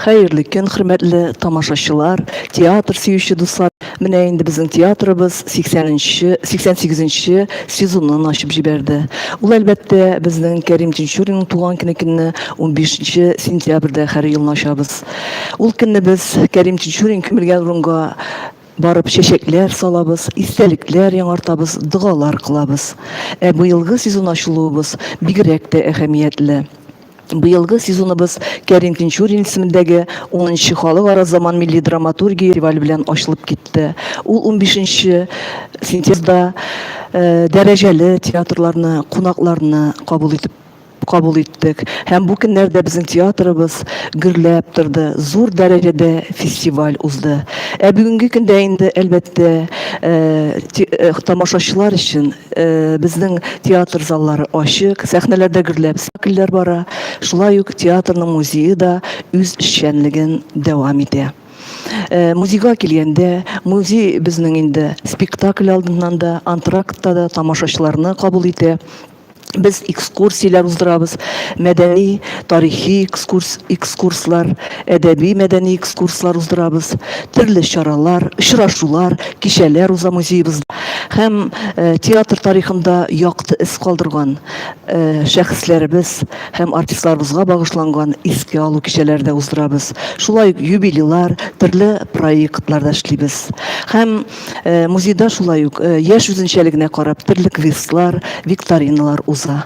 Хәерле көн, хөрмәтле тамашачылар, театр сөюче дуслар. Менә инде безнең театрыбыз 80-нче, 88-нче сезонын ачып җибәрде. Ул әлбәттә безнең Кәрим Тинчуринның туган көне көнне 15 сентябрьдә һәр елны ачабыз. Ул көнне без Кәрим Чечурин күмелгән урынга барып чәчәкләр салабыз, истәлекләр яңартабыз, догалар кылабыз. Ә быелгы сезон ачылуыбыз бигрәк тә әһәмиятле. Быелгы сезоныбыз Кәрим Тинчурин исемендәге 10-нчы халыкара заман милли драматургия фестивале белән ачылып китте. Ул 15-нче сентябрьдә э, дәрәҗәле театрларны, кунакларны кабул итеп кабул иттек. Һәм бу көннәрдә безнең театрыбыз гөрләп торды, зур дәрәҗәдә фестиваль узды. Ә бүгенге көндә инде, әлбәттә, тамашачылар өчен безнең театр заллары ачык, сәхнәләрдә гөрләп спектакльләр бара. Шулай ук театрның музее да үз эшчәнлеген дәвам итә. Музейга килгәндә, музей безнең инде спектакль алдыннан да, антрактта да тамашачыларны кабул итә. без экскурсияләр уздырабыз, мәдәни, тарихи экскурс, экскурслар, әдәби-мәдәни экскурслар уздырабыз, төрле чаралар, очрашулар, кичәләр уза музеебызда. Һәм театр тарихында якты эз калдырган шәхесләребез һәм артистларыбызга багышланган искә алу кичәләре дә уздырабыз. Шулай ук юбилейлар, төрле проектлар да эшлибез. Һәм Э, музейда шулай ук э, яшь үзенчәлегенә карап төрле квестлар, викториналар уза.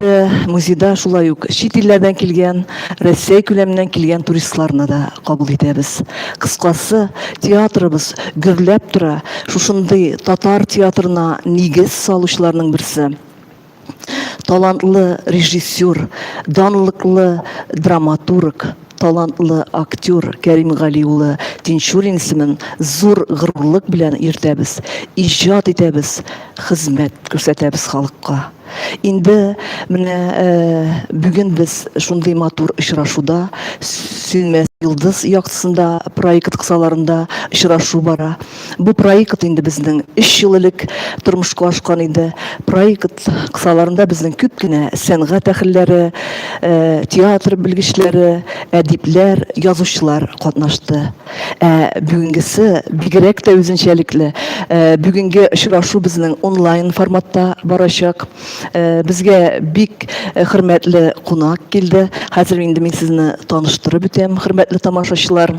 Э, музейда шулай ук чит илләрдән килгән, Россия күләменнән килгән туристларны да кабул итәбез. Кыскасы, театрыбыз гөрләп тора. Шушындый татар театрына нигез салучыларның берсе. талантлы режиссер, данлыклы драматург, талантлы актер Кәрим Гали улы Тинчурин исемен зур горурлык белән йөртәбез, иҗат итәбез, хезмәт күрсәтәбез халыкка. Инде менә э, бүген без шундый матур очрашуда Сөнмәс йолдыз яктысында проект кысаларында очрашу бара. Бу проект инде безнең өч ел элек тормышка ашкан иде. Проект кысаларында безнең күп кенә сәнгать әһелләре, театр белгечләре, әдипләр, язучылар катнашты. Ә бүгенгесе бигрәк тә үзенчәлекле. Бүгенге очрашу безнең онлайн форматта барачак. Безгә бик хөрмәтле кунак килде. Хәзер инде мин сезне таныштырып үтәм, хөрмәтле тамашачылар.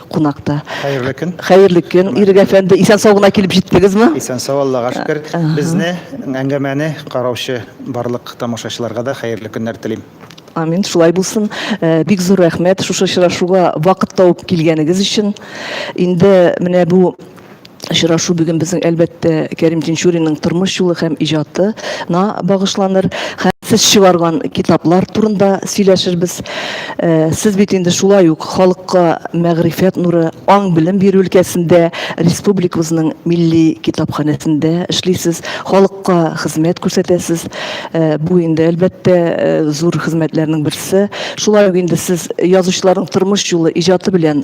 кунакта. Хәерле көн. Хәерле көн, Ирек әфәнде. Исән-сау гына килеп җиттегезме? Исән-сау, Аллага э, шөкер. Безне, әңгәмәне караучы барлык тамашачыларга да хәерле көннәр телим. Амин, шулай булсын. Э, бик зур рәхмәт шушы очрашуга вакыт тауып килгәнегез өчен. Инде менә бу Очрашу бүген безнең, әлбәттә, Кәрим Тинчуринның тормыш юлы һәм иҗатына багышланыр. Сез чыгарган китаплар турында сөйләшербез. Сез бит инде шулай ук халыкка мәгърифәт нуры, аң-белем бирү өлкәсендә республикабызның милли китапханәсендә эшлисез, халыкка хезмәт күрсәтәсез. Бу инде, әлбәттә, зур хезмәтләрнең берсе. Шулай ук инде сез язучыларның тормыш юлы, иҗаты белән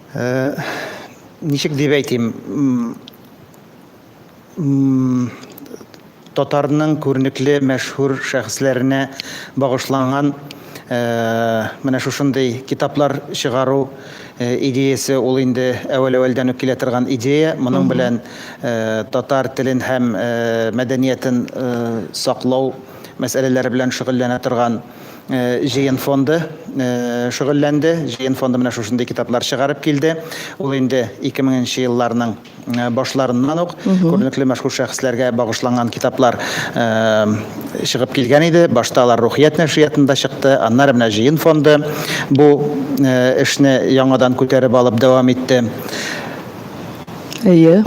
Ничек дип әйтим, татарның күренекле мәшһүр шәхесләренә багышланган менә шушындый китаплар чыгару идеясе ул инде әүвәл-әүвәлдән үк килә торган идея. Моның белән татар телен һәм мәдәниятен саклау мәсьәләләре белән шөгыльләнә торган җыен фонды шөгыльләнде. Җыен фонды менә шушындый китаплар чыгарып килде. Ул инде 2000 нче елларның башларыннан ук күренекле мәшһүр шәхесләргә багышланган китаплар чыгып килгән иде. Башта алар Рухият нәшриятында чыкты, аннары менә җыен фонды бу эшне яңадан күтәреп алып дәвам итте. Әйе.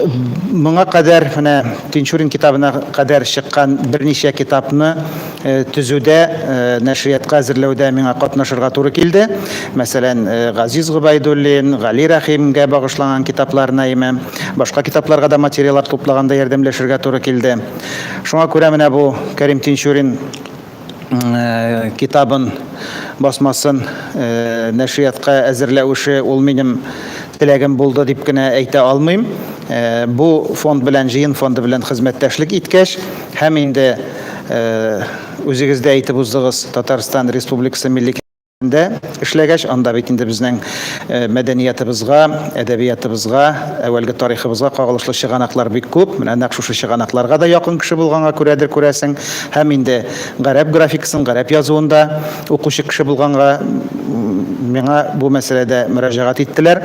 Моңа кадәр менә Тинчурин китабына кадәр чыккан берничә китапны төзүдә, нәшриятка әзерләүдә миңа катнашырга туры килде. Мәсәлән, Газиз Гобәйдуллин, Гали Рәхимгә багышланган китапларына яме башка китапларга да материалар туплаганда ярдәмләшергә туры килде. Шуңа күрә менә бу Кәрим Тинчурин китабын басмасын нәшриятка әзерләү эше ул минем теләгем булды дип кенә әйтә алмыйм. Бу фонд белән, җыен фонды белән хезмәттәшлек иткәч һәм инде үзегез дә әйтеп уздыгыз, Татарстан Республикасы Милли Дә эшләгәч, анда бит инде безнең мәдәниятыбызга, әдәбиятыбызга, әүвәлге тарихыбызга кагылышлы чыганаклар бик күп. Менә нәкъ шушы чыганакларга да якын кеше булганга күрәдер, күрәсең. Һәм инде гарәп графикасын, гарәп язуын да укучы кеше булганга, миңа бу мәсьәләдә мөрәҗәгать иттеләр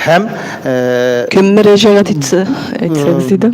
һәм. Кем мөрәҗәгать итте, әйтсәгез иде?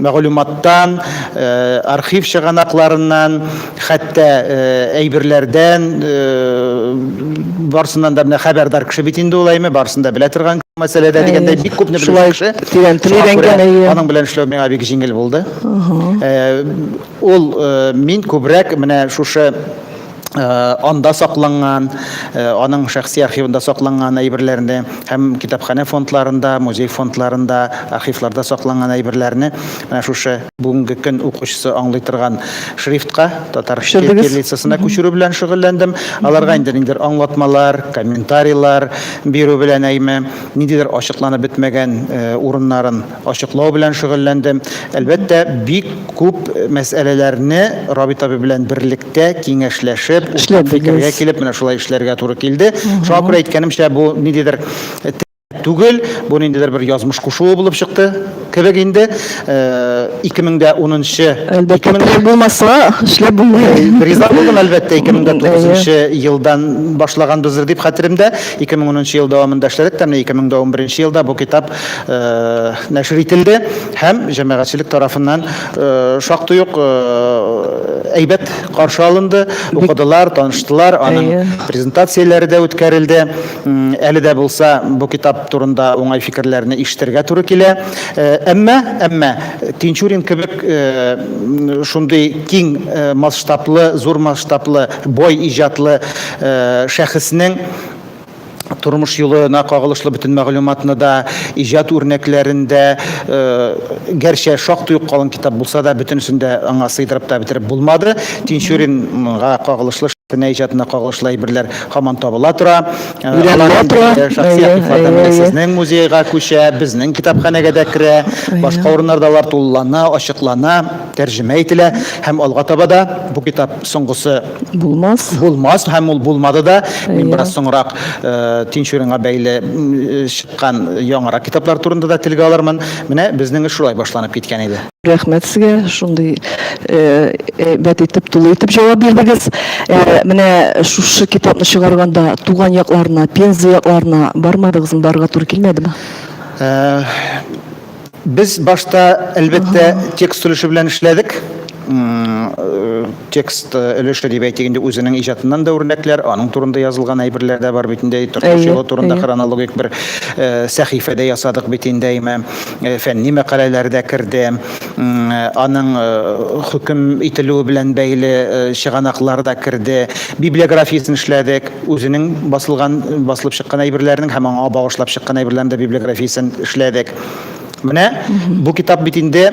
мәгълүматтан, архив чыганакларыннан, хәтта әйберләрдән, барысыннан да менә хәбәрдар кеше бит инде ул Әйме, барысын да белә торган мәсьәләдә дигәндәй, бик күпне белүче кеше. Шулай тирәнтен өйрәнгән, әйе. Аның белән эшләү миңа бик җиңел булды. Ул, мин күбрәк менә шушы анда сакланган, аның шәхси архивында сакланган әйберләрне һәм китапханә фондларында, музей фондларында, архивларда сакланган әйберләрне менә шушы бүгенге көн укучысы аңлый торган шрифтка, татар кириллицасына күчерү белән шөгыльләндем. Аларга инде ниндидер аңлатмалар, комментарийлар бирү белән әйме, ниндидер ачыкланып бетмәгән урыннарын ачыклау белән шөгыльләндем. Әлбәттә, бик күп мәсьәләләрне Рабит абый белән берлектә Бергәләшеп, киңәшләшеп, уртак фикергә килеп, менә шулай эшләргә туры килде. Шуңа күрә әйткәнемчә, бу ниндидер түгел, бу ниндидер бер язмыш кушуы булып чыкты кебек инде. 2010 нчы Әлбәттә, проект булмаса, эшләп булмый. Риза булдым, әлбәттә, 2009 елдан башлаганбыздыр дип хәтеремдә. 2010 ел дәвамында эшләдек тә, менә 2011 елда бу китап нәшер ителде һәм җәмәгатьчелек тарафыннан Э, шактый ук э, әйбәт каршы алынды укыдылар таныштылар аның презентацияләре дә үткәрелде әле дә булса бу китап турында уңай фикерләрне ишетергә туры килә э, әмма әмма тинчурин кебек шундый киң масштаблы зур масштаблы бой иҗатлы шәхеснең тормыш юлына кагылышлы бөтен мәгълүматны да, иҗат үрнәкләрен дә, гәрчә шактый ук калын китап булса да, бөтенесен дә аңа сыйдырып та бетереп булмады. Тинчуринга кагылышлы, Шәфинә иҗатына кагылышлы әйберләр һаман табыла тора. Алар инде шәхси архивлардан менә сезнең музейга күчә, безнең китапханәгә дә керә, башка урыннарда алар тулылана, ачыклана, тәрҗемә ителә һәм алга таба да бу китап соңгысы, Булмас. Булмас һәм ул булмады да. Мин бераз соңрак э, Тинчуринга бәйле э, чыккан яңарак китаплар турында да телгә алырмын. Менә безнең эш шулай башланып киткән иде. Рәхмәт сезгә шундый э, әйбәт итеп, тулы итеп җавап бирдегез. Менә шушы китапны чыгарганда туган якларына, Пенза якларына бармадыгызмы, барырга туры килмәдеме? Без башта, әлбәттә, текст өлеше белән эшләдек. Текст өлеше дип әйтик инде үзенең иҗатыннан да үрнәкләр, аның турында язылган әйберләр дә бар бит инде. Тормыш юлы турында хронологик бер сәхифә дә ясадык бит инде, әйме. Фәнни мәкаләләр дә керде. Аның хөкем ителүе белән бәйле чыганаклар да керде. Библиографиясен эшләдек. Үзенең басылган, басылып чыккан әйберләренең һәм аңа багышлап чыккан әйберләрнең дә библиографиясен эшләдек. Менә бу китап бит инде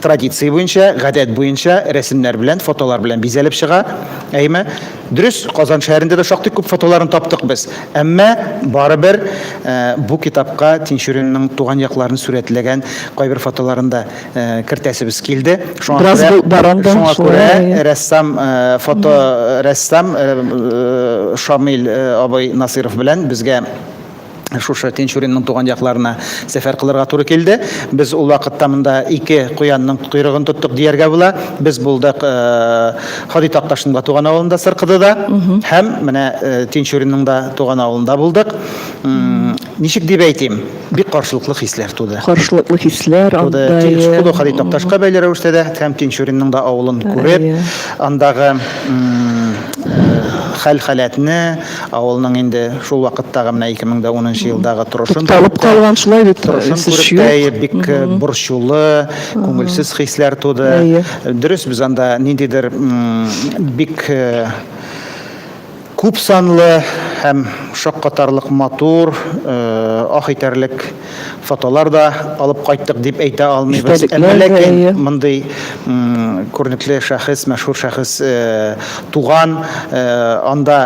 традиция буенча, гадәт буенча рәсемнәр белән, фотолар белән бизәлеп чыга. Әйме? Дөрес, Казан шәһәрендә дә шактый күп фотоларын таптык без. Әмма барыбер бу китапка Тинчуринның туган якларын сурәтләгән кайбер фотоларын да кертәсебез килде. Шуңа күрә рәссам, фоторәссам Шамил абый Насыйров белән безгә шушы Тинчуринның туган якларына сәфәр кылырга туры килде. Без ул вакытта монда ике куянның койрыгын тоттык дияргә була. Без булдык Һади Такташның да туган авылында, Сыркыдыда һәм менә Тинчуринның да туган авылында булдык. Ничек дип әйтим, бик каршылыклы хисләр туды. Каршылыклы хисләр анда. Шкода Халит Такташка бәйле рәвештә дә һәм Тинчуринның да авылын күреп, андагы хәл-халәтне, авылның инде шул вакыттагы менә 2010 елдагы торышын күреп тә, торышын күреп тә бик борчулы, күңелсез хисләр туды. Дөрес, без анда ниндидер бик Күп санлы һәм шаккатарлык матур, ах итәрлек фотолар да алып кайттык дип әйтә алмыйбыз. Әмма ләкин мондый күренекле шәхес, мәшһүр шәхес туган, анда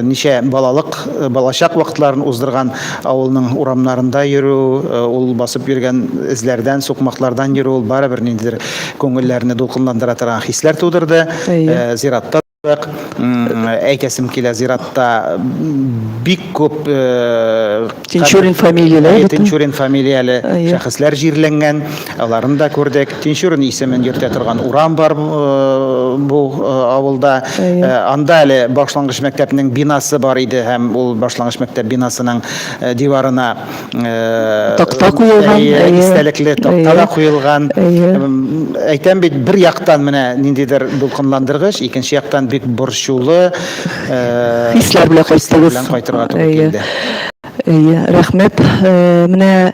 ничә балалык, балачак вакытларын уздырган авылның урамнарында йөрү, ул басып йөргән эзләрдән, сукмаклардан йөрү, ул барыбер ниндидер күңелләрне дулкынландыра торган хисләр тудырды. Зиратта. әйтәсем килә зиратта бик күп э, тинчурин фамилияле э, тинчурин фамилияле шәхесләр җирләнгән аларын да күрдек тинчурин исемен йөртә торган урам бар э, бу авылда анда әле башлангыч мәктәпнең бинасы бар иде һәм ул башлангыч мәктәп бинасының диварына такта куелган истәлекле такта да куелган әйтәм бит бер яктан менә ниндидер дулкынландыргыч икенче яктан бик борчулы хисләр белән кайттыгыз кайтырга туры килде Әйе, рәхмәт. Менә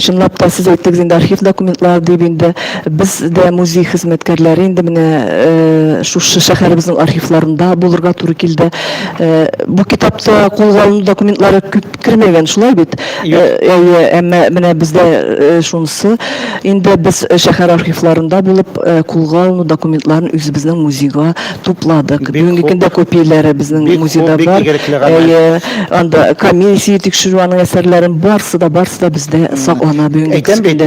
чынлап та сез әйттегез инде архив документлар дип инде без дә музей хезмәткәрләре инде менә шушы шәһәребезнең архивларында булырга туры килде. Бу китапта кулга алыну документлары күп Кермәгән, шулай бит? Юк. Әйе, әмма менә бездә шунысы, инде без шәһәр архивларында булып, кулга алыну документларын үзебезнең музейга тупладык. Бүгенге көндә копияләре безнең музейда бар. Бик игелекле гамәл. Әйе, анда комиссия тикшерү, аның әсәрләрен барысы да, барысы да бездә саклана бүгенге көндә. Әйтәм бит,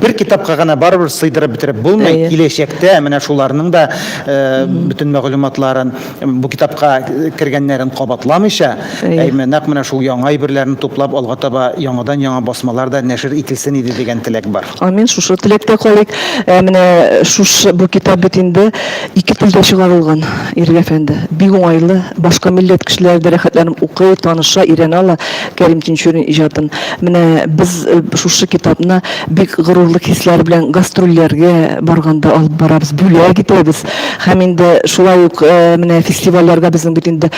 бер китапка гына барыбер сыйдырып бетереп булмый. Әйе. Киләчәктә менә шуларның да бөтен мәгълүматларын. Бу китапка кергәннәрен кабатламыйча, әйме, нәкъ менә шул яңа әйберләрне туплап, алга таба яңадан-яңа басмалар да нәшер ителсен иде дигән теләк бар. Амин, шушы теләктә калыйк. Ә менә шушы бу китап бит инде ике телдә чыгарылган, Ирек әфәнде. Бик уңайлы, башка милләт кешеләре дә рәхәтләнеп укый, таныша, өйрәнә ала Кәрим Тинчурин иҗатын. Менә без шушы китапны бик горурлык хисләре белән гастрольләргә барганда алып барабыз, бүләк итәбез. Һәм инде шулай ук менә фестивальләргә безнең бит инде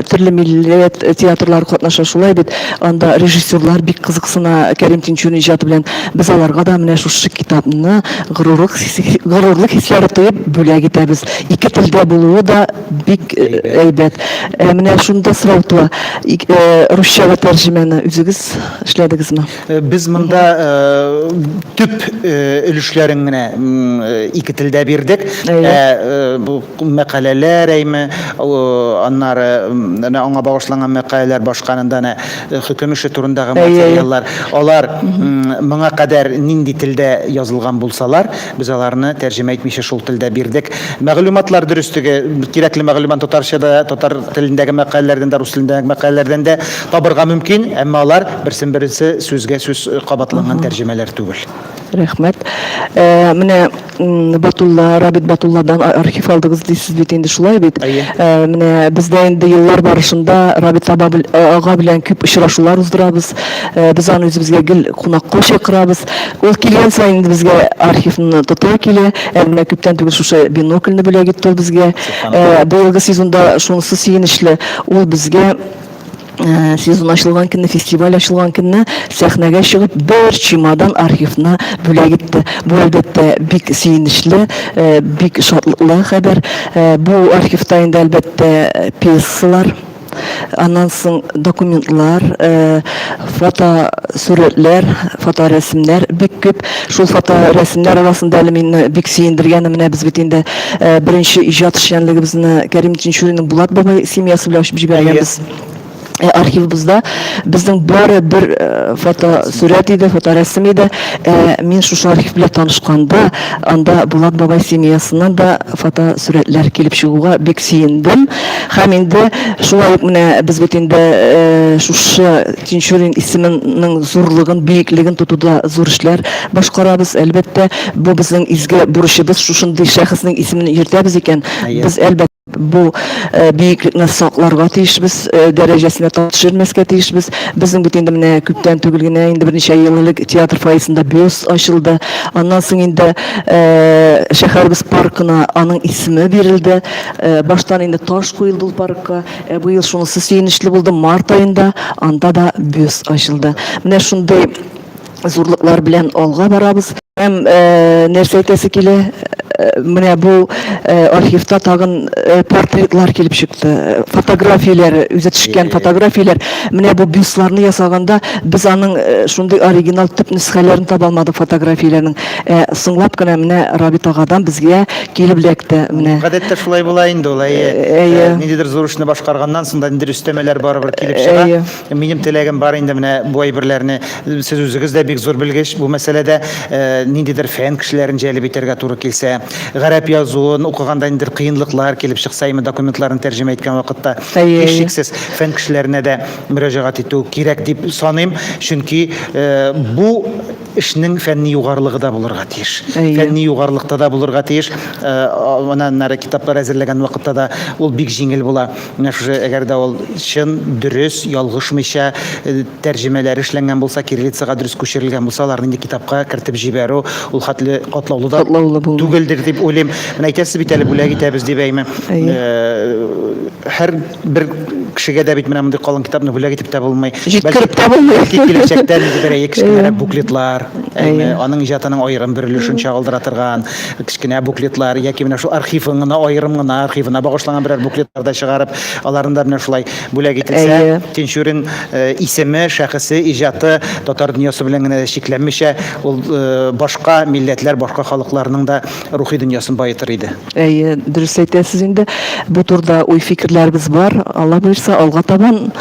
төрле милләт театрлары катнаша шулай бит. Анда режиссерлар бик кызыксына Кәрим Тинчурин иҗаты белән. Без аларга да менә шушы китапны горурлык горурлык хисләре тоеп бүләк итәбез. Ике телдә булуы да бик әйбәт. Ә менә шунда сорау туа, русчага тәрҗемәне үзегез эшләдегезме? Э, без монда э, төп э, өлешләрен генә ике телдә бирдек ә мәкаләләр әйме аннары аңа багышланган мәкаләләр башканында әнә хөкем эше турындагы материаллар алар моңа кадәр нинди телдә язылган булсалар Без аларны тәрҗемә итмичә шул телдә бирдек. Мәгълүматлар дөреслеге, кирәкле мәгълүмат татарча да, татар телендәге мәкаләләрдән дә, рус телендәге мәкаләләрдән дә табырга мөмкин, әмма алар берсен-берсе сүзгә сүз кабатланган тәрҗемәләр түгел. Рәхмәт. Менә Батулла, Рабит Батулладан архив алдыгыз дисез бит инде, шулай бит? Әйе. Менә без дә инде еллар барышында Рабит ага белән күп очрашулар уздырабыз. э, без аны үзебезгә гел кунакка чакырабыз. Ул килгән саен инде безгә архивны тота килә. Ә менә күптән түгел шушы бинокльне бүләк итте ул безгә. Э, быелгы сезонда шунысы сөенечле, ул безгә Э, сезон ачылган көнне фестиваль ачылган көнне сәхнәгә чыгып бер чемодан архивны бүләк итте бу әлбәттә бик сөенечле э, бик шатлыклы хәбәр э, бу архивта инде әлбәттә пьесалар аннан соң документлар, э, фотосурәтләр, фоторәсемнәр бик күп. Шул фоторәсемнәр арасында әле мине бик сөендергәне менә без бит инде э, беренче иҗат эшчәнлегебезне Кәрим Тинчуринның Булат бабай семьясы белән ачып җибәргәнбез. Э, архивыбызда безнең бары бер э, фотосурәт иде, фоторәсем иде. Э, мин шушы архив белән танышканда, анда Булат бабай семьясыннан да фотосурәтләр килеп чыгуга бик сөендем. Һәм инде шулай ук менә без бит инде шушы Тинчурин исеменең зурлыгын, биеклеген тотуда зур эшләр башкарабыз. Әлбәттә, бу безнең изге бурычыбыз. Шушындый шәхеснең исемен йөртәбез икән, без, әлбәттә, бу биеклекне сакларга тиешбез, дәрәҗәсенә тап төшермәскә тиешбез. Безнең бит инде менә күптән түгел генә, инде берничә ел элек театр фойесында бюст ачылды. Аннан соң инде шәһәребез паркына аның исеме бирелде. Баштан инде таш куелды ул паркка, ә быел шунысы сөенечле булды, март аенда анда да бюст ачылды. Менә шундый зурлыклар белән алга барабыз. Һәм нәрсә әйтәсе килә, менә бу архивта тагын портретлар килеп чыкты, фотографияләр, үзе төшкән фотографияләр. Менә бу бюстларны ясаганда без аның шундый оригинал төп нөсхәләрен таба алмадык фотографияләрнең. Соңлап кына менә Рабит агадан безгә Килеп эләкте, менә. Гадәттә шулай була инде ул, әйе. Әйе. Ниндидер зур эшне башкарганнан соң да ниндидер өстәмәләр барыбер килеп чыга. Әйе. Минем теләгем бар инде менә бу әйберләрне, сез үзегез дә бик зур белгеч бу мәсьәләдә, ниндидер фән кешеләрен җәлеп итәргә туры килсә, гарәп язуын укыганда ниндидер кыенлыклар килеп чыкса, именно документларны тәрҗемә иткән вакытта. Әйе, әйе. Һичшиксез, фән кешеләренә дә мөрәҗәгать итү кирәк дип саныйм, чөнки бу, Эшнең фәнни югарылыгы да булырга тиеш. Фәнни югарылыкта да булырга тиеш. Менә аннары китаплар әзерләгән вакытта да ул бик җиңел була. Менә шушы, әгәр дә ул чын, дөрес, ялгышмыйча тәрҗемәләре эшләнгән булса, кириллицага дөрес күчерелгән булса, аларны инде китапка кертеп җибәрү ул хәтле катлаулы да түгелдер дип уйлыйм. Менә әйтәсез бит әле, бүләк итәбез дип, әйме. Һәр бер кешегә дә бит менә мондый калын китапны бүләк итеп тә булмый. Җиткереп тә булмый. Бәлки киләчәктә ниндидер әйе кечкенәрәк буклетлар, әйме, аның иҗатының аерым бер өлешен чагылдыра торган кечкенә буклетлар яки менә шул архивын гына аерым гына архивына багышланган берәр буклетлар да чыгарып, аларны да менә шулай бүләк ителсә, Тинчурин исеме, шәхесе, иҗаты татар дөньясы белән генә дә чикләнмичә, ул башка милләтләр, башка халыкларның да рухи дөньясын баетыр иде. Әйе, дөрес әйтәсез инде. Бу турыда уй-фикерләребез бар. Алла боерса, алга табан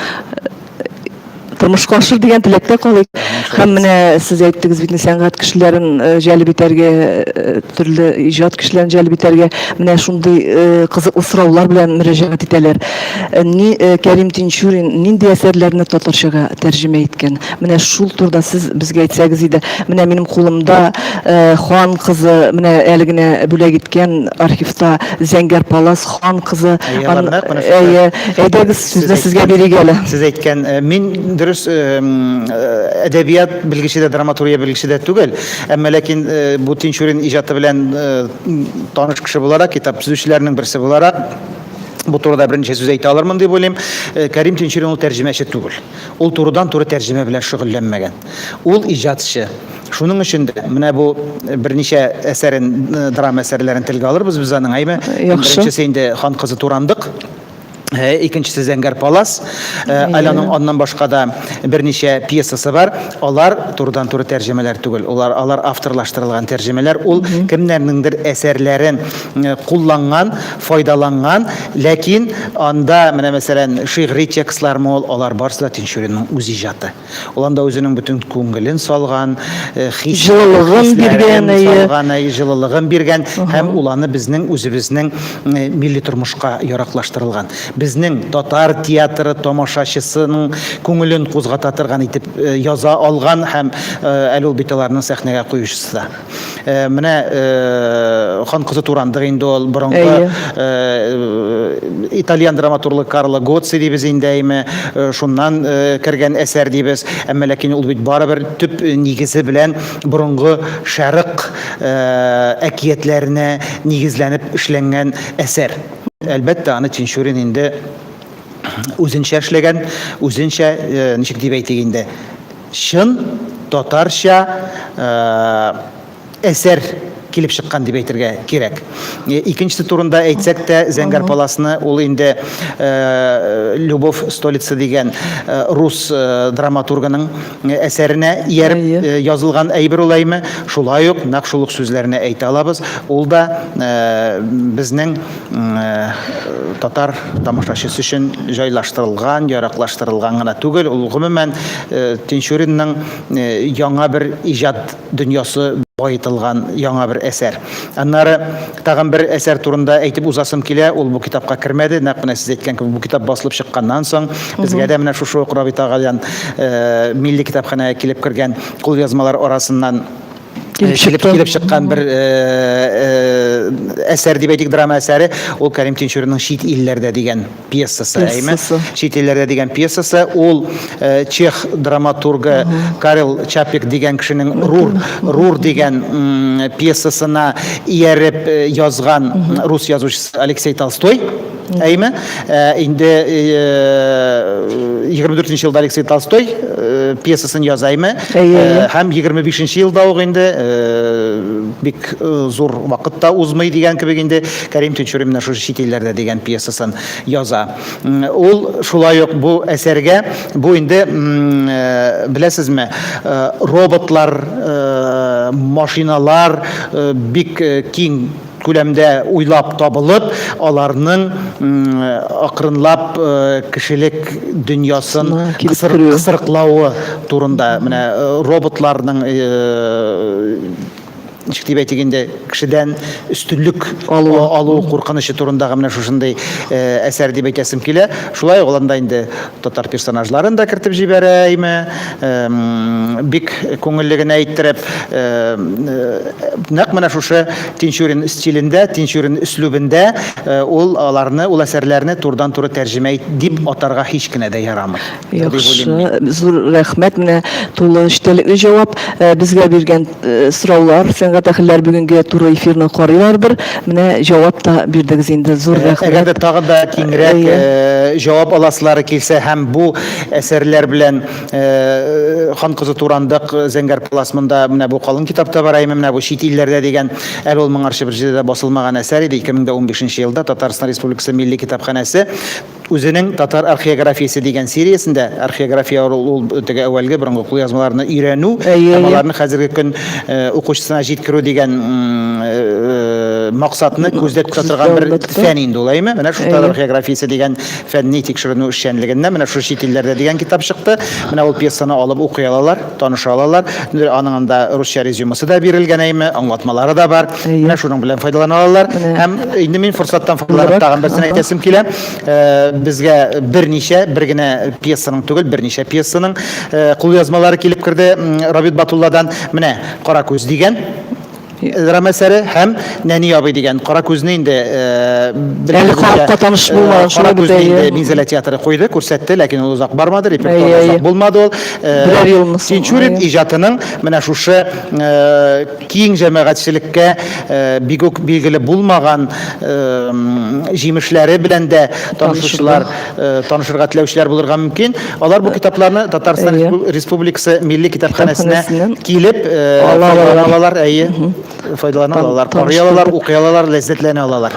тормышка ашыр дигән теләктә калыйк. Һәм менә сез әйттегез бит, сәнгать кешеләрен җәлеп итәргә, төрле иҗат кешеләрен җәлеп итәргә менә шундый кызыклы сораулар белән мөрәҗәгать итәләр. Ни Кәрим Тинчурин нинди әсәрләрне татарчага тәрҗемә иткән? Менә шул турыда сез безгә әйтсәгез иде. Менә минем кулымда э, хан кызы, менә әле генә бүләк иткән архивта Зәңгәр палас хан кызы. Әйе, Ан- Ларнак, менә шулай. Әйе, әйдәгез сүзне Сез сезгә бирик әле. Сез әйткән, э, мин дөрес э, м, э, әдәбият белгече дә, драматургия белгече дә түгел, әмма ләкин э, бу Тинчурин иҗаты белән э, м, таныш кеше буларак, китап төзүчеләрнең берсе буларак, бу турыда берничә сүз әйтә алырмын дип уйлыйм. Э, Кәрим Тинчурин ул тәрҗемәче түгел. Ул турыдан-туры тәрҗемә белән шөгыльләнмәгән. Ул, иҗатчы. Шуның өчен дә, менә бу берничә әсәрен, драма әсәрләрен телгә алырбыз без аның, әйме? Яхшы. Беренчесе инде Хан кызы Турандык, икенчесе Зәңгәр палас. Әле аның аннан башка да берничә пьесасы бар. Алар турыдан-туры тәрҗемәләр түгел. Алар, алар авторлаштырылган тәрҗемәләр. Ул кемнәрнеңдер әсәрләрен кулланган, файдаланган, ләкин анда менә мәсәлән шигъри текстлар мол, алар барысы да Тинчуринның үз иҗаты. Ул анда үзенең бөтен күңелен салган, хис, җылылыгын биргән, әйе, җылылыгын биргән һәм ул аны безнең үзебезнең милли тормышка яраклаштырылган, безнең татар театры тамашачысының күңелен кузгата торган итеп яза алган һәм әле ул бит аларның сәхнәгә куючысы да. Э, менә э, хан кызы турандык инде ул борынгы э, итальян драматургы Карло Гоци дибез инде әйме шуннан кергән әсәр дибез әмма ләкин ул бит барыбер төп нигезе белән борынгы шәрык әкиятләренә нигезләнеп эшләнгән әсәр әлбәттә аны тинчурин инде үзенчә эшләгән үзенчә ничек дип әйтик инде Чын татарча әсәр килеп чыккан дип әйтергә кирәк. Икенчесе турында әйтсәк тә, Зәңгәр паласны ул инде Любовь Столица дигән рус драматургының әсәренә ияреп язылган әйбер ул әйме, шулай ук нәкъ шул ук сүзләрне әйтә алабыз. Ул да безнең татар тамашачысы өчен җайлаштырылган, яраклаштырылган гына түгел, ул гомумән Тинчуринның яңа бер иҗат дөньясы баетылган яңа бер әсәр. Аннары тагын бер әсәр турында әйтеп узасым килә, ул бу китапка кермәде, нәкъ менә сез әйткән кебек, бу китап басылып чыкканнан соң, безгә дә менә шушы ук Рабит агадан Милли китапханәгә килеп кергән кулъязмалар арасыннан килеп чыккан бер әсәр дип әйтик, драма әсәре, ул Кәрим Тинчуринның Чит илләрдә дигән пьесасы, әйме? Чит илләрдә дигән пьесасы, ул чех драматургы Карл Чаплик дигән кешенең Рур, Рур дигән пьесасына ияреп язган рус язучысы Алексей Толстой. Әйме, инде 24 нче елда Алексей Толстой пьесасын яза әйме, һәм 25 нче елда ук инде бик зур вакыт та узмый дигән кебек инде Кәрим Тинчурин менә шушы чит илләрдә дигән пьесасын яза. Ул шулай ук бу әсәргә, бу инде беләсезме, роботлар, машиналар бик киң күләмдә уйлап табылып, аларның акрынлап кешелек дөньясын кысырыклавы турында. Менә роботларның, ничек дип әйтик инде, кешедән өстенлек алу куркынычы турындагы менә шушындый әсәр дип әйтәсем килә. Шулай ук аларда инде Татар персонажларын да кертеп җибәрә, әйме, бик күңелле генә иттереп, нәкъ менә шушы Тинчурин стилендә, Тинчурин өслүбендә ул аларны, ул әсәрләрне турыдан-туры тәрҗемә ит дип атарга һич кенә дә ярамый. Яхшы, зур рәхмәт, менә тулы эчтәлекле җавап безгә биргән. сораулар, сәнгать әһелләр бүгенге туры эфирны карыйлардыр. Менә җавап та бирдегез инде. Зур рәхмәт. Әгәр дә тагы да киңрәк җавап аласылары килсә һәм бу әсәрләр белән хан кызы турандык зәңгәр палас монда менә бу калын китапта бар, әйме менә бу чит илләрдә дигән, әле ул моңарчы бер җирдә дә басылмаган әсәр иде, 2015 елда Татарстан Республикасы Милли китапханәсе Үзенең Татар археографиясе дигән сериясендә, археография ул ул теге әүвәлге борынгы кулъязмаларны өйрәнү Әйе, һәм әйе. аларны хәзерге көн э, укучысына җиткерү дигән м, э, максатны күздә Күздә тотылган бер албетте. фән инде ул, әйеме? Менә шул Татар Әйе. археографиясе дигән фәнни тикшеренү эшчәнлегеннән менә шушы чит илләрдә дигән китап чыкты. Менә ул пьесаны алып укый алалар, таныша алалар. Аның анда русча резюмасы да бирелгән, әйеме, аңлатмалары да бар. Менә шуның белән файдалана алалар. Һәм инде мин форсаттан файдаланып тагын берсен әйтәсем килә. Безгә берничә, бер генә пьесаның түгел, берничә пьесаның кулъязмалары килеп керде Рабит Батулладан. Менә Кара күз дигән драма әсәре һәм Нәни абый дигән. Кара күзне инде Әле халыкка таныш булмаган шул бит, әйе. Кара күзне Минзәлә театры куйды, күрсәтте, ләкин ул озак бармады, репертуарда озак булмады ул. Берәр елны соң. Тинчурин иҗатының менә шушы киң җәмәгатьчелеккә бик үк билгеле булмаган җимешләре белән дә танышучылар, танышырга теләүчеләр булырга мөмкин. Алар бу китапларны Татарстан Республикасы Милли китапханәсенә килеп ала алалар, әйе, файдалана алалар, карый алалар, укый алалар, ләззәтләнә алалар.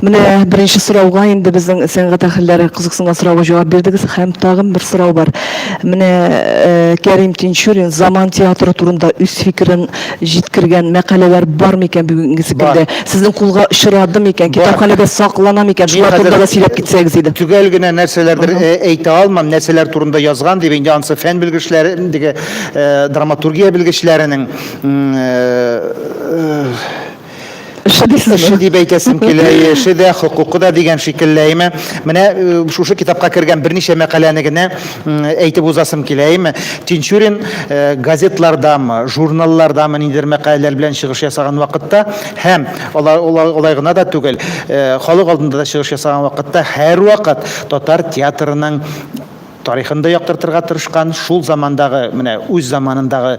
Менә беренче сорауга инде безнең сәнгать әһелләре кызыксынган сорауга җавап бирдегез. Һәм тагын бер сорау бар. Менә Кәрим Тинчурин заман театры турында үз фикерен җиткергән мәкаләләр бар микән бүгенгесе көндә? Сезнең кулга очрады микән? Китапханәдә саклана микән? Шулар турында да сөйләп китсәгез иде. Төгәл генә нәрсәләрдер әйтә алмам, нәрсәләр турында язган дип, инде анысы фән белгечләре, драматургия белгечләренең Эше дисең. Эше дип әйтәсем килә, эше дә, хокукы да дигән шикелле, әйме. Менә э, шушы китапка кергән берничә мәкаләне генә әйтеп узасым килә, әйме. Тинчурин э, газетлардамы, журналлардамы нидер мәкаләләр белән чыгыш ясаган вакытта һәм алай гына да түгел, э, халык алдында да чыгыш ясаган вакытта һәрвакыт татар театрының тарихын да яктыртырга тырышкан, шул замандагы, менә үз заманындагы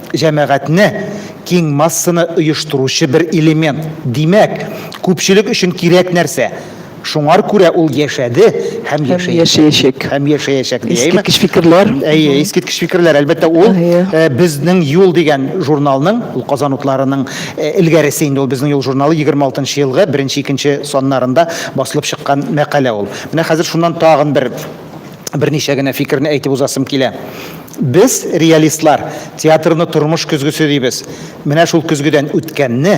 җәмәгатьне, киң массаны оештыручы бер элемент, димәк, күпчелек өчен кирәк нәрсә. Шуңар күрә ул яшәде һәм яшәячәк. Һәм яшәячәк. Искиткеч фикерләр. Әйе, искиткеч фикерләр. Әлбәттә, ул Безнең юл дигән журналның, ул Казан утларының элгәресе инде ул Безнең юл журналы 26 нчы елгы беренче-икенче саннарында басылып чыккан мәкалә ул. Менә хәзер шуннан тагын бер берничә генә фикерне әйтеп узасым килә. Без, реалистлар, театрны тормыш көзгесе дибез. Менә шул көзгедән үткәнне,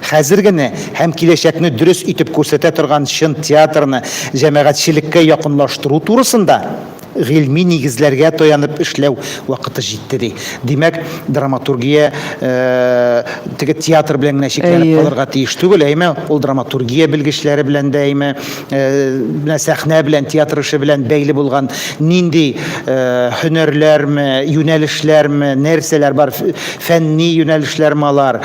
хәзергене һәм киләчәкне дөрес итеп күрсәтә торган чын театрны җәмәгатьчелеккә якынлаштыру турысында гыйльми нигезләргә таянып эшләү вакыты җитте, ди. Димәк, драматургия теге театр белән генә чикләнеп калырга тиеш түгел, әйме, ул драматургия белгечләре белән дә, әйме, менә сәхнә белән, театр эше белән бәйле булган нинди һөнәрләрме, юнәлешләрме, нәрсәләр бар, фәнни юнәлешләрме алар,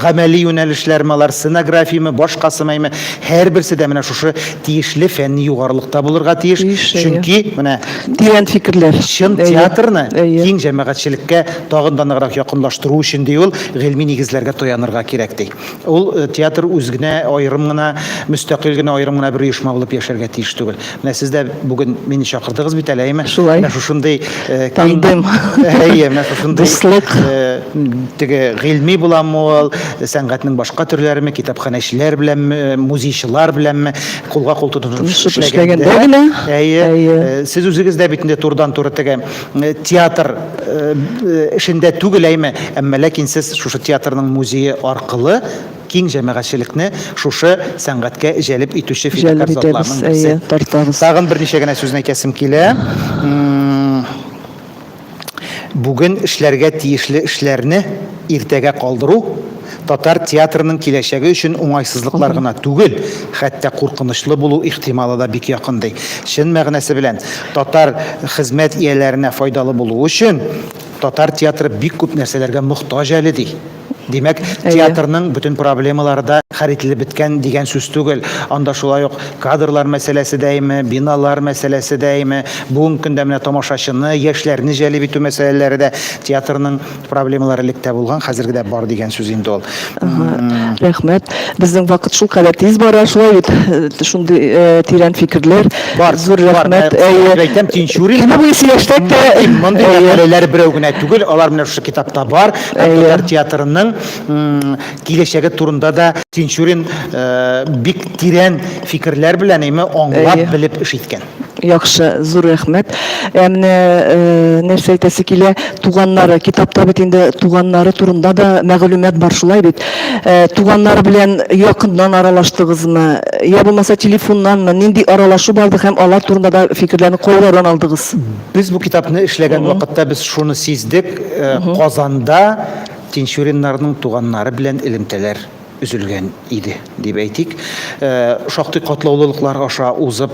гамәли юнәлешләрме алар, сценографиямы, башкасымыймы, һәрберсе дә менә шушы тиешле фәнни югарылыкта булырга тиеш. Чөнки менә тирән фикерләр. Чын театрны киң җәмәгатьчелеккә тагын да ныграк якынлаштыру өчен, ди ул, гыйльми нигезләргә таянырга кирәк, ди. Ул, театр үз генә, аерым гына, мөстәкыйль генә, аерым гына бер оешма булып яшәргә тиеш түгел. Менә сез дә бүген мине чакырдыгыз бит әле, әйеме? Шулай. Менә шушындый киң, әйе, менә шушындый, дуслык, теге гыйльми буламы ул, сәнгатьнең башка төрләреме, китапханәчеләр беләнме, музейчылар беләнме кулга-кул тотынышып эшләгәндә генә, әйе, сез үзегез дә бит инде турыдан-туры теге, театр эшендә түгел әйме, әмма ләкин сез шушы театрның музее аркылы киң җәмәгатьчелекне шушы сәнгатькә җәлеп итүче фидакарь затларның берсе. Тагын берничә генә сүзне әйтәсем килә. Бүген эшләргә тиешле эшләрне иртәгә калдыру, Татар театрының киләчәге өчен уңайсызлыклар гына түгел, хәтта куркынычлы булу ихтималы да бик якын, ди. Чын мәгънәсе белән, татар хезмәт ияләренә файдалы булу өчен татар театры бик күп нәрсәләргә мохтаҗ әле, ди. Димәк, театрның бөтен проблемалары да хәл ителеп беткән дигән сүз түгел. Анда шулай ук кадрлар мәсьәләсе дәиме, биналар мәсьәләсе дәиме, бүгенге көндә менә тамашачыны, яшьләрне җәлеп итү мәсьәләләре дә театрның Проблемалар элек тә булган, хәзерге дә бар дигән сүз инде ул. Рәхмәт. Безнең вакыт шул кадәр тиз бара, шулай бит. Э, шундый э, тирән фикерләр. Бар, зур рәхмәт. Әйе. Әйтәм, Тинчурин. Кем буе сөйләштек тә. Мондый мәкаләләр берәү генә түгел, алар менә шушы китапта бар. Татар театрының киләчәге турында да Тинчурин э, бик тирән фикерләр белән, әйме, аңлап, белеп эш иткән. Яхшы, зур рәхмәт. Ә менә нәрсә әйтәсе килә, туганнары, китапта бит инде туганнары турында да мәгълүмат бар, шулай бит? Туганнары белән якыннан аралаштыгызмы, я булмаса телефоннанмы, нинди аралашу барды һәм алар турында да фикерләрне кайлардан алдыгыз? Без бу китапны эшләгән вакытта без шуны сиздек, Казанда Тинчуриннарның туганнары белән элемтәләр. өзелгән иде дип әйтик. Шактый катлаулылыклар аша узып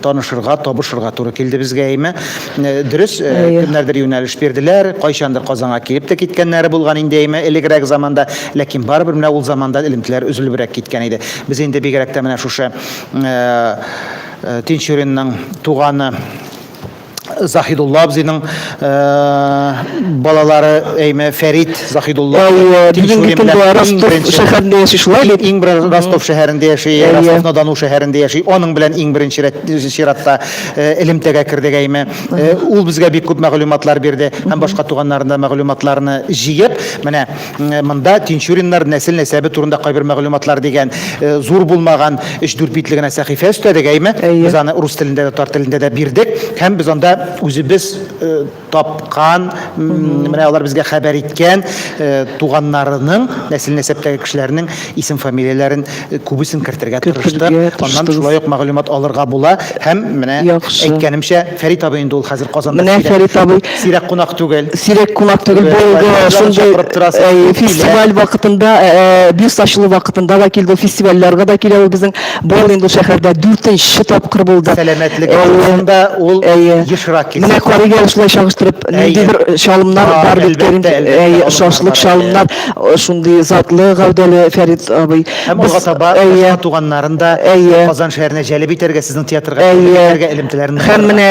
танышырга, табышырга туры килде безгә әйме. Дөрес, кемнәрдер юнәлеш бирделәр, кайчандыр Казанга килеп тә киткәннәре булган инде әйме элегрәк заманда, ләкин барыбер менә ул заманда элемтәләр өзелебрәк киткән иде. Без инде бигрәк тә менә шушы Тинчуринның туганы, Заһидулла абзыйның балалары әйме Фәрит Заһидулла. Бүгенге көндә Ростов шәһәрендә яши шулай бит. Иң бер Ростов шәһәрендә яши, Ростов Надану шәһәрендә яши. Аның белән иң беренче чиратта элемтәгә кердек әйме. Ул безгә бик күп мәгълүматлар бирде һәм башка туганнарының да мәгълүматларны җыеп, менә Монда Тинчуриннар нәсел-нәсәбе турында кайбер мәгълүматлар дигән зур булмаган өч-дүрт битле генә сәхифә өстәдек, әйме? Әйе. Без аны урыс телендә дә, татар телендә дә бирдек һәм без анда үзебез тапкан, менә алар безгә хәбәр иткән туганнарының, нәсел-нәсәптәге кешеләрнең Исем-фамилияләрен күбесен кертергә тырыштык. Аннан шулай ук мәгълүмат алырга була. Һәм менә әйткәнемчә, Фәрит абый инде ул хәзер Казанда. Менә Фәрит абый. Сирәк кунак түгел. Сирәк кунак түгел. Бу шундый фестиваль вакытында, бюст ачылу вакытында да килде. Фестивальләргә дә килә ул безнең. Бу ел инде шәһәрдә дүртенче тапкыр булды. Сәламәтлек турында ул ешрак килә. Менә карыйгә шулай чагыштырып, ниндидер чалымнар бар бит. Әлбәттә, әлбәттә. Шашлык, чалымнар. Шундый затлы гәүдәле Фәрит абый. Һәм алга таба башка туганнарын да Казан шәһәренә җәлеп итәргә, сезнең театрга җәлеп итәргә элемтәләрен. Һәм менә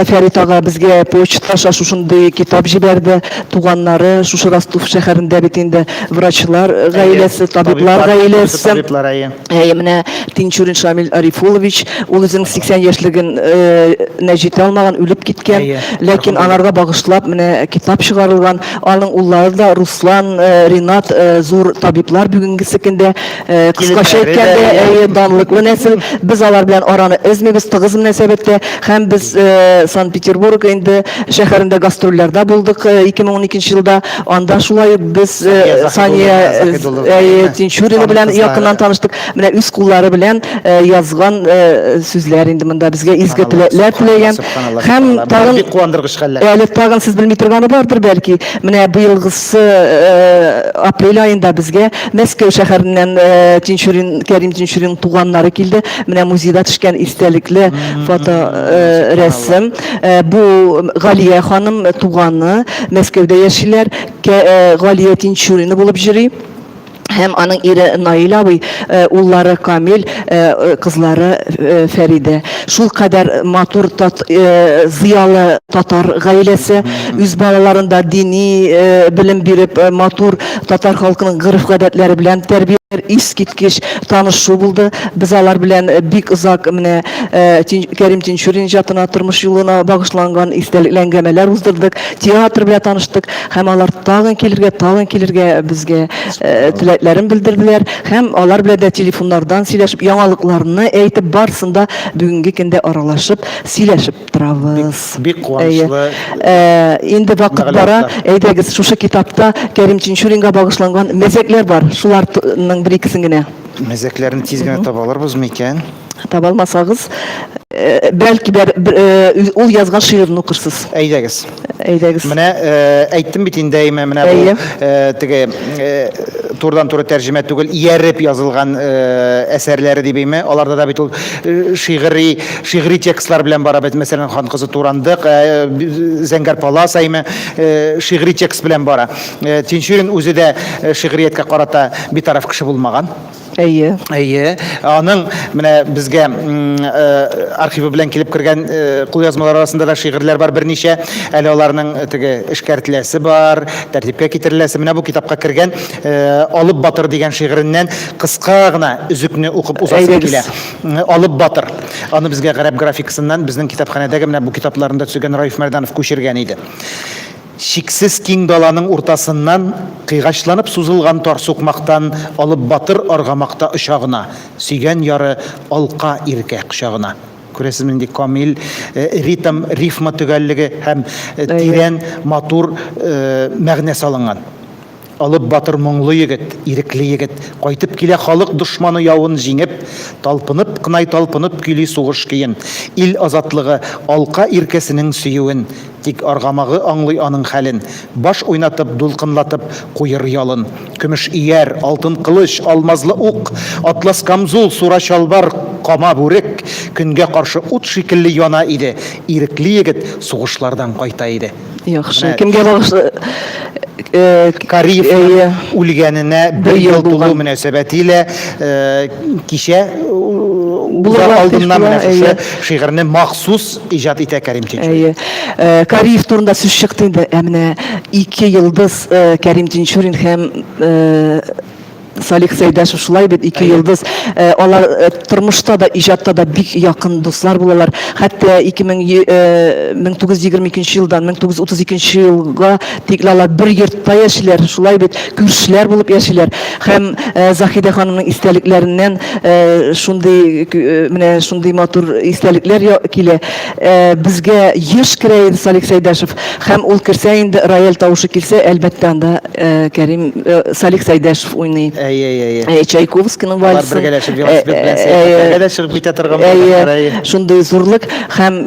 Фәрит ага безгә почта аша шушындый китап җибәрде. Туганнары шушы Ростов шәһәрендә бит инде, врачлар гаиләсе, табиблар гаиләсе. Әйе, менә Тинчурин Шамил Арифулович, ул үзенең 80 яшьлеген нә җитә алмаган, үлеп киткән. Ләкин аларга багышлап менә китап чыгарылган. Аның уллары да Руслан, Ринат зур табиблар бүгенгесе көндә. Кыскача әйткәндә, әйе, данлыклы нәсел. Без алар белән араны өзмибез, тыгыз мөнәсәбәттә. Һәм без Санкт-Петербург инде шәһәрендә гастрольләрдә булдык 2012 елда. Анда шулай ук без Сания Тинчурина белән якыннан таныштык. Менә үз куллары белән язган сүзләр инде монда безгә изге теләкләр теләгән. Һәм тагын бик куандыргыч хәлләр. Әле тагын сез белми торганы бардыр бәлки. Менә быелгысы апрель аенда безгә Мәскәү шәһәреннән Тинчурин, Кәрим Тинчурин туганнары килде. Менә музейда төшкән истәлекле фото рәсем. Бу Галия ханым туганы. Мәскәүдә яшиләр. Галия Тинчурина булып җыри һәм аның ире Наил абый, уллары Камил, кызлары Фәридә. Шулкадәр матур, зыялы татар гаиләсе. Үз балаларын да дини белем биреп, матур татар халкының гореф-гадәтләре белән тәрбиялиләр. Искиткеч танышу булды. Без алар белән бик озак менә э, Кәрим Тинчурин иҗатына, тормыш юлына багышланган истәлекле әңгәмәләр уздырдык, театр белән таныштык һәм алар тагын килергә, тагын килергә безгә э, теләкләрен белдерделәр һәм алар белән дә телефоннардан сөйләшеп, яңалыкларны әйтеп, барсында бүгенге көндә аралашып, сөйләшеп торабыз. Бик куанычлы. Э, инде вакыт бара, әйдәгез, шушы китапта Кәрим Тинчуринга багышланган мәзәкләр бар. Шуларның бер икесен генә. Мәзәкләрен тиз генә таба алырбызмы икән? Таба алмасагыз, бәлки дә ул язган шигырен укырсыз. Әйдәгез. Әйдәгез. Менә әйттем бит инде әйме, менә бу теге турыдан-туры тәрҗемә түгел, ияреп язылган әсәрләре дип әйме. Аларда да бит ул шигъри, шигъри текстлар белән бара бит. Мәсәлән, Хан кызы Турандык, Зәңгәр палас әйме, шигъри текст белән бара. Тинчурин үзе дә шигърияткә карата битараф кеше булмаган. Әйе. Әйе. Аның менә безгә э, архивы белән килеп кергән э, кулъязмалар арасында да шигырьләр бар берничә. Әле аларның э, теге эшкәртеләсе бар, тәртипкә китереләсе. Менә бу китапка кергән Алып батыр дигән шигыреннән кыска гына өзекне укып узасы килә. Алып батыр. Аны безгә гарәп графикасыннан безнең китапханәдәге менә бу китапларында төзегән Раиф Мәрданов күчергән иде. Чиксез киң даланың уртасыннан кыйгачланып сузылган тар сукмактан алып батыр аргамак та оча гына, сөйгән яры алка иркә кочагына. Күрәсезме, нинди камил ритм, рифма төгәллеге һәм тирән, матур мәгънә салынган. Олуг батыр моңлы егет, ирекле егет, кайтып килә халык дошманы явын җиңеп, талпынып кнай талпынып көйли сугыш көен, ил азатлыгы, алка иркәсенең сөюен, тик аргамагы аңлый аның хәлен, баш уйнатып, дулкынлатып куер ялын. Көмеш ияр, алтын кылыч, алмазлы ук, атлас камзул, сура чалбар, кама бүрек, көнгә каршы ут шикелле яна иде, ирекле егет сугышлардан кайта иде. Яхшы. Менә- Кемгә багышлы? Э, Кариевның Әйе. үлгәненә бер ел ел тулу булган. мөнәсәбәтиле э, кичә э, Булырга узар алдыннан тиеш менә була, шушы әйе. шигырьне махсус иҗат итә Кәрим Тинчурин. Әйе. Э, Кариев турында сүз чыкты инде. Ә менә ике йолдыз э, Кәрим Тинчурин һәм э, Салих Сәйдәшев шулай бит, ике йолдыз. Э, алар э, тормышта да, иҗатта да бик якын дуслар булалар. Хәтта 1922 э, елдан 1932 елга тикле алар бер йортта яшиләр, шулай бит, күршеләр булып яшиләр. Һәм Захидә ханымның истәлекләреннән шундый менә шундый матур истәлекләр килә. Безгә еш керә иде Салих Сәйдәшев. Һәм ул керсә инде, рояль тавышы килсә, әлбәттә анда Кәрим Салих Сәйдәшев уйный. Әйе, әйе, әйе. Әйе, Чайковскийның вальсы. Алар бергәләшеп велосипед белән сәяхәтләргә дә чыгып китә торган булганнар. Әйе, шундый зурлык һәм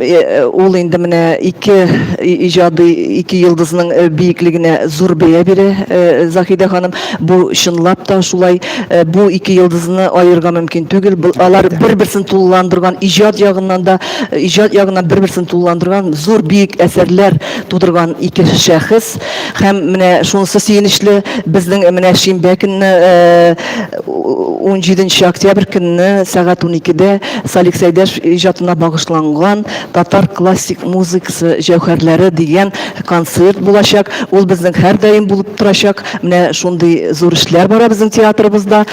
ул инде менә ике иҗади, ике йолдызның биеклегенә зур бәя бирә Заһидә ханым. Бу чынлап та шулай. Бу ике йолдызны аерырга мөмкин түгел. Алар бер-берсен тулыландырган, иҗат ягыннан да, иҗат ягыннан бер-берсен тулыландырган, зур биек әсәрләр тудырган ике шәхес. Һәм менә шунысы сөенечле, безнең менә шимбә көнне 17 э, октябрь көнне сәгать 12-дә Салик Сәйдәш иҗатына багышланган татар классик музыкасы җәүһәрләре дигән концерт булачак. Ул безнең һәрдаим булып торачак. Менә шундый зур эшләр бара безнең театрыбызда.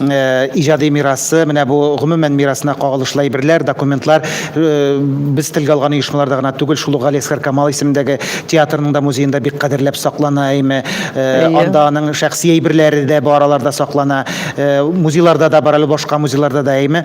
Э, иҗади мирасы менә бу гомумән мирасына кагылышлы әйберләр документлар э, без телгә алган оешмаларда гына түгел шул ук галиәсгар камал исемендәге театрның да музеенда бик кадерләп саклана әйме э, анда аның шәхси әйберләре дә бу араларда саклана музейларда да бар әле башка музейларда да әйме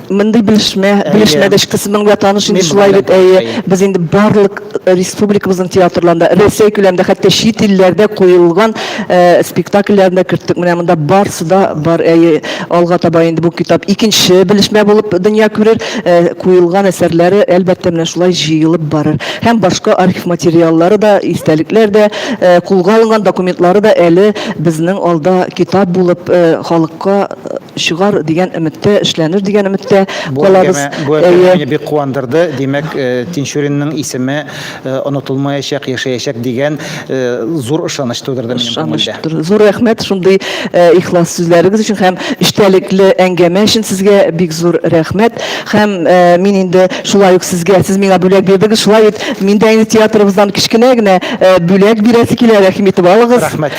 Мондый белешмә, белешмә дә кысымның да таныш инде шулай бит, әйе. Без инде барлык республикабызның театрларында, Рәсәй күләмендә, хәтта чит илләрдә куелган спектакльләрендә керттек. Менә монда барсы да бар, әйе. Алга таба инде бу китап икенче белешмә булып дөнья күрер. Куелган әсәрләре, әлбәттә, менә шулай җыелып барыр. Һәм башка архив материаллары да, истәлекләр дә, кулга алынган документлары да әле безнең алда китап булып халыкка чыгар дигән өметтә, эшләнер дигән өметтә калабыз. Бу әңгәмә мине бик куандырды. Димәк, Тинчуринның исеме онытылмаячак, яшәячәк дигән зур ышаныч тудырды минем күңелдә. Ышаныч. Зур рәхмәт шундый ихлас сүзләрегез өчен һәм эчтәлекле әңгәмә өчен сезгә бик зур рәхмәт. Һәм мин инде шулай ук сезгә, сез миңа бүләк бирдегез, шулай ит, мин дә инде театрыбыздан кечкенә генә бүләк бирәсе килә, рәхим итеп алыгыз. Рәхмәт.